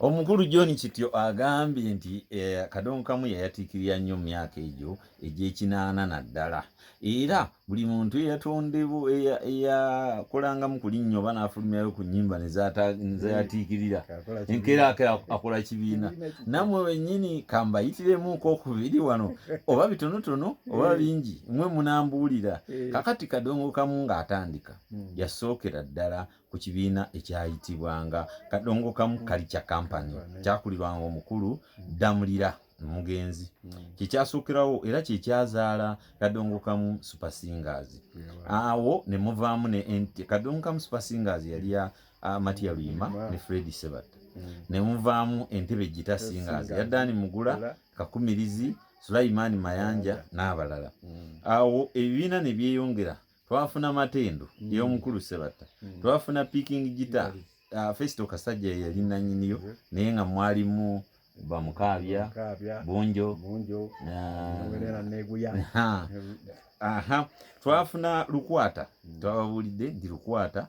Omukulu John Kityo agambye nti eh, kadongo kamu yayatiikirira nnyo mu myaka egyo egy'ekinaana naddala era buli muntu eyatondebwa eyakolangamu ku linnyo oba n'afulumyayo ku nnyimba nezayatiikirira enkeera akola kibiina nammwe wennyini kambayitiremu kokubiri wano oba bitonotono oba eh. bingi mwe munambuulira eh. kakati kadongo kamu ng'atandika hmm. yasookera ddala ku kibiina ekyayitibwanga kadongokamu kalica kampany kyakulirwanga omukulu ddamulira omugenzi kyekyasukirawo era kyekyazaala kadongokamu supersingers awo ne muvaamu ne kadongokamu supersingers yali ya matiya luyima ne fredi sebatta ne muvaamu entebe gita singers ya dani mugula kakumirizi sulaimani mayanja n'abalala awo ebibiina ne byeyongera twafuna matendo mm. yomukulu sebatta mm. twafuna picking gita mm. uh, ah, festo kasajja yali nanyiniyo mm. naye nga mwalimu bamukabya bunjo bunjo uh, neguya aha twafuna lukwata mm. twababulidde ndi lukwata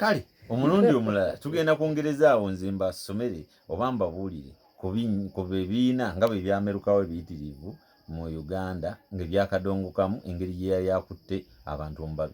kale omulundi omulala tugenda kwongereza awo nze mbasomere oba mbabuulire ku bibiina nga bwe byamerukawo ebiyitirivu mu uganda ng'ebyakadongokamu engeri gye yali akutte abantu omubabiri